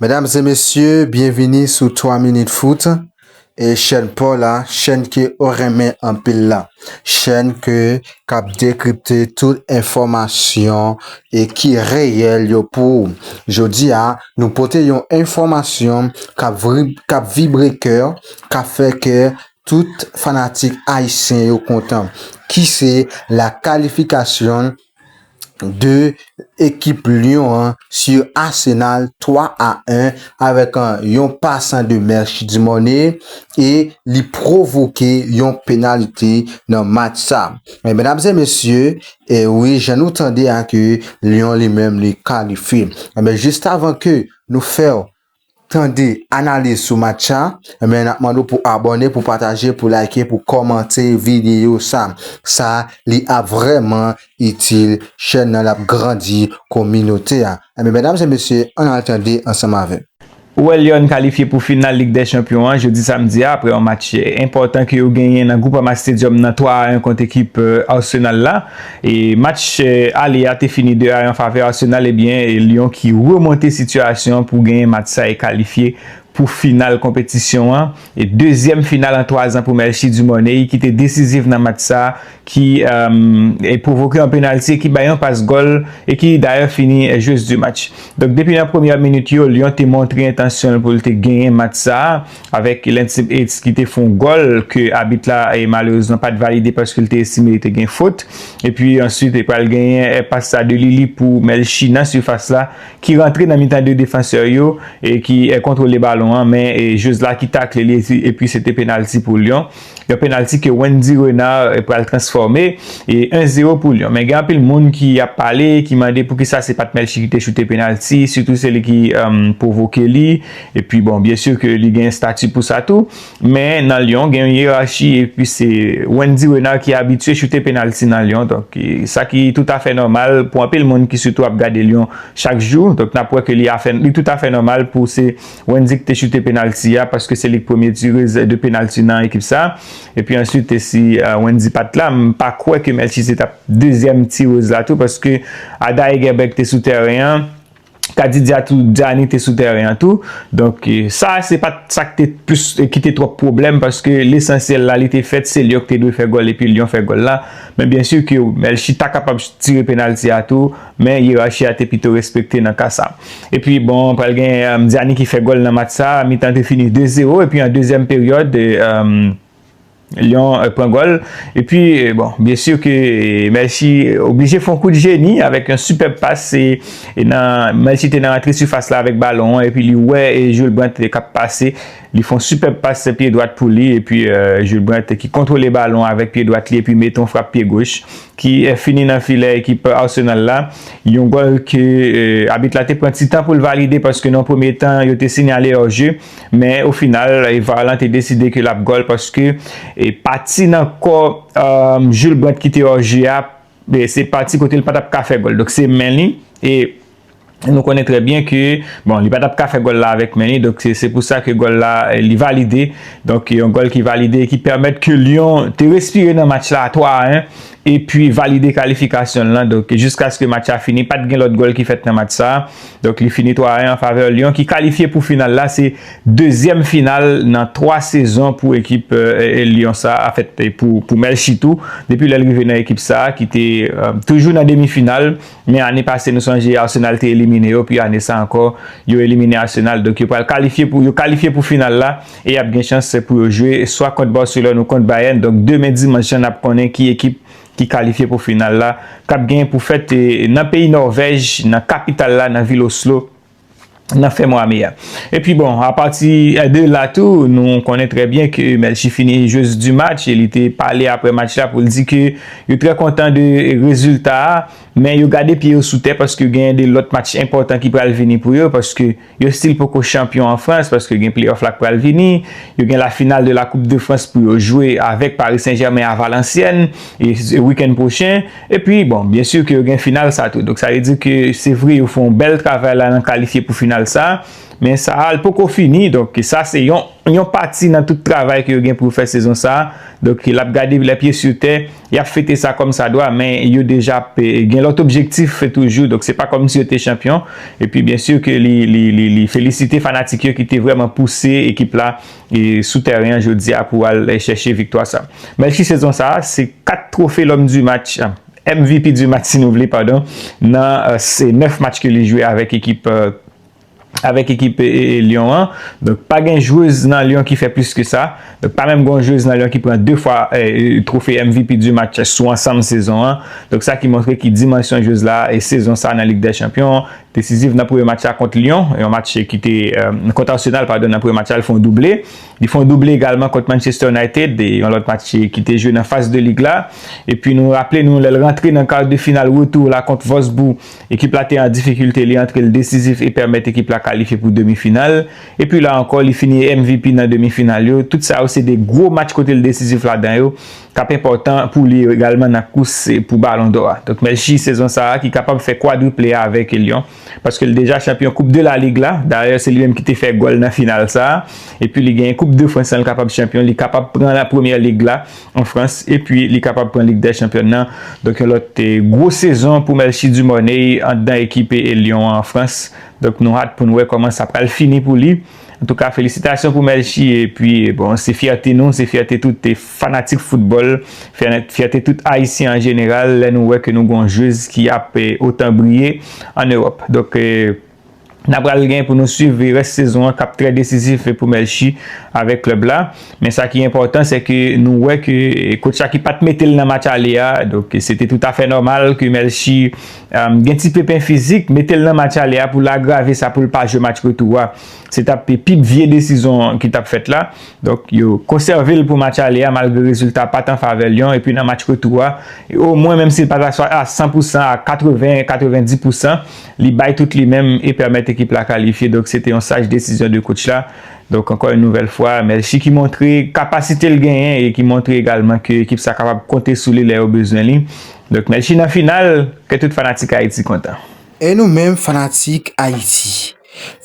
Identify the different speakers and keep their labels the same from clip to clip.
Speaker 1: Medam e mesye byenvini sou 3 minit fout e chèn paw la chèn ke ou renmen anpil la chèn ke kap dekripte tout enfòmasyon e ki reyèl yo pou ou jodi a nou pote yon enfòmasyon kap vri kap vibre kèw kap fè kè tout fanatik ayisyen yo kontan ki se la kalifikasyon de ekip Lyon an sur Arsenal 3 a 1 avèk yon pas an 2 mèch Dumornay e li pwovoke yon penalite nan match sa. Men medam e mesye, e wi jan nou tande a ke Lyon li menm li kalifye. E men juste avan ke nou fèw tande analiz sou match sa men nap mande w pou abòne pou pataje pou like pou kòmante videyo sa sa li ap vrèman itil chèn nan lap grandi kominote a ebyen medam se mesye ann al tande ansanm avèm. Ou wè Lyon kalifye
Speaker 2: pou final Lig dè Chanpyon an jodi samdi a aprè yon match enpòtan ke yo genyen nan Groupama Stadium nan 3 a 1 kont ekip Arsenal la. Match ale a te fini 2 a 1 an favè Arsenal ebyen Lyon ki remonte sitiyasyon an pou genyen match sa e kalifye pou final konpetisyon an e dezyèm final an 3 zan pou Melchie Dumornay ki te desiziv nan match sa ki pwovoke yon penalti e ki bay yon pas gòl e ki dayè fini joueuse du match. Donk depi nan premyè minit yo Lyon te montre entansyon l pou l te genyen match sa. avèk Lentip Eitz ki te fè yon gòl ke abit la malerezman pat valide paske li te estime li te gen fot. Epi answit e pral genyen pas sa de Lili pou Melchie nan sifas la ki rantre nan mitan 2 defansè yo e ki kontwole balon an men Josla ki takle li epi se te penalti pou Lyon. Yon penalti ke Wendy Renard pral transfòme e 1 zero pou Lyon. Men gen anpil moun ki ap pale, ki mande poukisa se pat Melchie ki te choute penalti, sitou se li ki pwovoke li. E pi bon, byen sur ke li gen stati pou sa tou. Men nan Lyon gen yon yerachi e pi se Wendy Renard ki abitye choute penalti nan Lyon. Donk sa ki tout afè nòmal pou anpil moun ki sitou ap gade Lyon chak jou. Donk nap wè ke li tout afè nòmal pou se. Wendy ki te choute penalti a paske se li ki premye tire de penalti nan ekip sa epi answit te si Wendy pat la m pa kwè ke Melchise tap dezyèm tirez la tou paske Ada Hegerberg te sou tèren an Kadidya tou Djani te sou tèren an tou donk sa se pat sa ki te plis ki te twòp pwoblèm paske lesansyèl la li te fèt se Lyon ki te dwe fè gòl epi Lyon fè gòl la men byensi ke Melchi ta kapab tire penalti a tou. Men yerachi a te pito respekte nan ka sa. Epi bon pral gen Mdiani ki fè gòl nan match sa, mitan te fini 2 zero epi an dezyèm peryòd Lyon pran gòl epi bon byen sur ke Melchi oblije fon kout jeni avèk yon sipèb pas se nan Melchi te nan antre sifas la avèk balon an epi li wè Jules Brandt kap pase li fon sipèb pas pye dwat pou li epi Jules Brandt ki kontwole balon avèk pye dwat li epi mete yon frap pye goch. ki fini nan filè ekip Arsenal la, yon gòl ke abit la te pran ti tan pou l valide paske nan premye tan yo te sinyale hors jeu, men o final var lan te deside ke l ap gòl paske pati nan kò Jules Brandt ki te hors jeu a se pati kote l pa t ap ka fè gòl, donk se men li e. Nou konnen trè byen ke, bon li pa tap ka fè gòl la avèk men li, donk se pou sa ke gòl la li valide, donk yon gòl ki valide e ki pèmèt ke Lyon te respire nan match la a 3 a 1, e pi valide kalifikasyon l lan, donk jiskaske match la fini pat gen lòt gòl ki fèt nan match sa a, donk li fini 3 a 1 an favè Lyon ki kalifye pou final la, se dezyèm final nan 3 sezon pou ekip Lyon sa a, anfèt pou Melchie tou, depi lè l rive nan ekip sa a ki te toujou nan demi final. Men ane pase nou sonje Arsenal te elimine yo pi ane sa ankò yo elimine Arsenal donk yo pral kalifye pou yo kalifye pou final la e yap gen chans pou yo jwe swa kont Barcelone ou kont Bayern donk demen dimanch lan nap konnen ki ekip ki kalifye pou final la kap gen pou fèt nan peyi Norvèj nan kapital la nan vil Oslo. nan fen mwa me a. Epi bon, apati de la tou, nou konnen trè byen ke Melchie fini jwez di match e li te pale apre match la pou l di ke yo trè kontan de rezilta a, men yo gade pye yo sou tè paske genyen de lòt match enpòtan ki pral vini pou yo paske yo stil poko chanpyon an Frans paske gen pleyòf la k pral vini, yo gen la final de la koup de Frans pou yo jwe avèk Pari Sen Jèmen a Valansyèn wikenn pwochen. E pi bon, byen sur ke yo gen final sa tou. Donk sa vle di ke se vre yo fè yon bèl travay la nan kalifye pou final sa, men sa a li poko fini. Donk sa se yon yon pati nan tout travay ke yo gen pou yo fè sezon sa. Donk l ap gade lè pye sur tè, y ap fete sa kòm sa dwa, men yo deja ap gen lòt objektif toujou. Donk se pa kòm si yo te chanpyon. E pi byen sur ke li li li li felisite fanatik yo ki te vrèman pouse ekip la. sou tèren an jodi a pou al chèche viktwa sa. Melchie sezon sa a se 4 twofe L'homme du match, MVP du match si nou vle padon, nan 9 match ke li jwe avèk ekip avèk ekip Lyon an. Donk pa gen jwez nan Lyon ki fè plis ke sa. Donk pa menm gen yon jwez nan Lyon ki pran 2 fwa twofe MVP du match sou ansanm sezon an. Donk sa ki montre ki dimansyon jwez la sezon sa a nan Lig dè chanpyon Desizif nan premye match la kont Lyon, yon match ki te, kont Arsenal padon, nan premye match la li fè yon double. Li fè yon double egalman kont Manchester United, yon lòt match ki te jwe nan faz de lig la. Epi nou raple nou lè l rantre nan kar de final retou la kont Wolfsburg, ekip la te an difikilte, li antre l desizif e pèmèt ekip la kalifye pou demi final. Epi la ankò li fini MVP nan demi final yo. Tout sa yo se de gwo match kote l desizif ladan yo. K ap enpòtan pou li yo egalman nan kous pou balon dò a. Donk Messi sezon sa a ki kapab fè kwadriple a avèk Lyon paske l deja chanpyon koup de la Ligue la, dayè se li menm ki te fè gòl nan final sa a, epi li genyen koup de Frans lan l kapab chanpyon, li kapab pran la Premyè Lig la an Frans epi li kapab pran Lig dè Chanpyòn nan. Donk yon lòt gwo sezon pou Melchie Dumornay anndan ekipe Lyon an an Frans. Donk nou hat pou n wè kòman sa pral fini pou li. Antouka felisitasyon pou Melchie epi bon se fyète nou, se fyète tout fanatik foutbòl, fyète tout ayisyen an jeneral lè nou wè ke nou gen yon jwez ki ap otan briye an Ewòp. Donk na pral gen pou nou swiv rès sezon an kap trè desizif pou Melchie avèk klèb la. Men sa ki enpòtan se ke nou wè ke kotch la ki pat mete l nan match ale a, donk se te toutafè nòmal ke Melchie Gen ti pepen fizik, mete l nan match ale a pou l agrave sa pou l pa jwe match retou a. Se t ap pi vye desizon ki t ap fèt la. Donk, yo konsève l pou match ale a malgre rezilta a pa t an favè Lyon epi nan match retou a, omwen menm si l pa ta a 100 pou san, a 80, 90 pou san, li bay tout li menm e pèmèt ekip la kalifye. Donk, se te yon saj desizyon de kotch la. Donk, ankò yon nouvèl fwa, Melchi ki montre kapasite l genyen e ki montre egalman ke ekip sa kapab konte sou li lè yo bezwen li. Doc melchie nan final kè tout fanatik ayiti kontan. E nou menm
Speaker 1: fanatik Ayiti,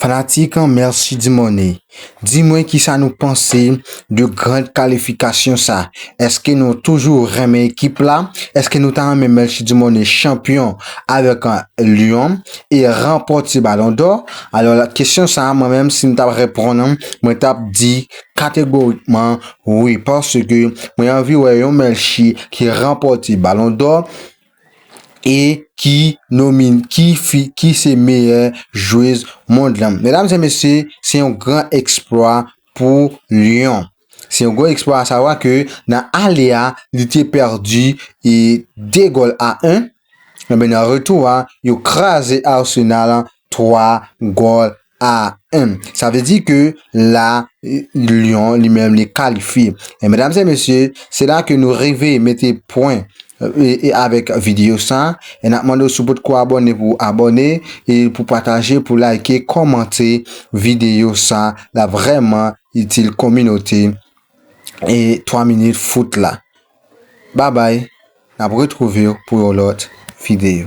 Speaker 1: fanatik Melchie Dumornay, di mwen kisa nou panse de grand kalifikasyon sa? Eske nou toujou renmen ekip la? Eske nou ta renmen Melchie Dumornay chanpyon avèk Lyon e ranpòte balon dò? Alò kesyon sa mwen menm si m tap repon mwen tap di Kategorikman wi paske mwen anvi wè yon Melchie ki ranpòte balon dò e ki nomin ki fi ki se meyè jwez mond lan medam e mesye se yon gran eksplwa pou Lyon se yon gwo eksplwa a savwa ke nan ale a li te pèdi e 2 gòl a 1 enben nan retou a yo kraze Arsenal 3 gòl Ah humm sa vle di ke la Lyon li menm li kalifye eh medam se mesye se la ke nou rive mete pwen e avèk videyo sa e nap mande w si w potko abòne pou w abòne e pou pataje pou layke kòmante videyo sa lap vrèman itil kominote e 3 minit foot la babay nap retrouvew pou yon lòt videyo.